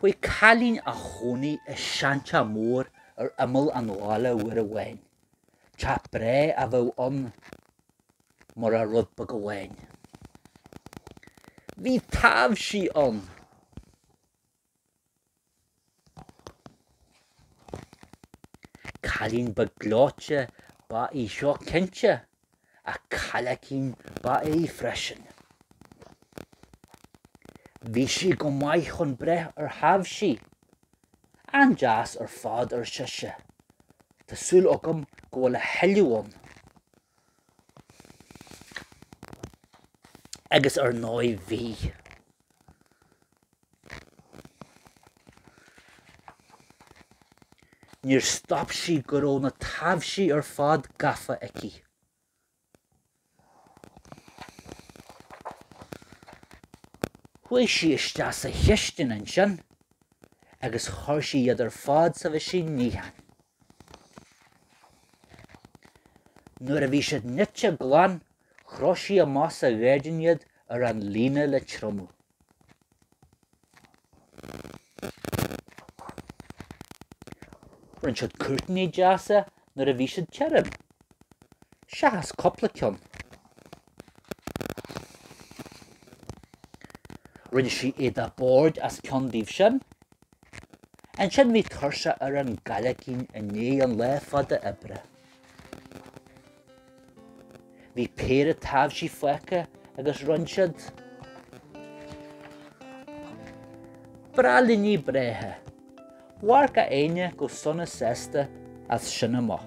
Bhí cailín ina cónaí i seanteach mór ar imeall an bhaile uair amháin. Teach breá a bheadh ann murach rud beag amháin. Bhí taibhsí ann. Cailín beag gleoite ab í seo cinnte, ach cailleachín ba ea í freisin. Bhí sí go maith chun breith ar thaibhsí. An-deas ar fad, ar sise. Tá súil agam go bhfuil a thuilleadh ann. Agus ar ndóigh bhí. Níor stop sí go raibh na taibhsí ar fad gafa aici. Chuaigh sí isteach sa chistin ansin agus chuir sí iad ar fad sa mheaisín níocháin. Nuair a bhí siad nite glan, chroch sí amach sa ghairdín iad ar an líne le triomú. Rinne siad cuirtíní deasa nuair a bhí siad tirim, seachas cúpla ceann. Rinne sí éadach boird as ceann díobh sin. Ansin bhí tuirse ar an gcailleachín i ndiaidh an lá fada oibre. Bhí péire taibhsí fágtha agus rinne siad braillíní breátha, Mhair gach éinne go sona sásta as sin amach.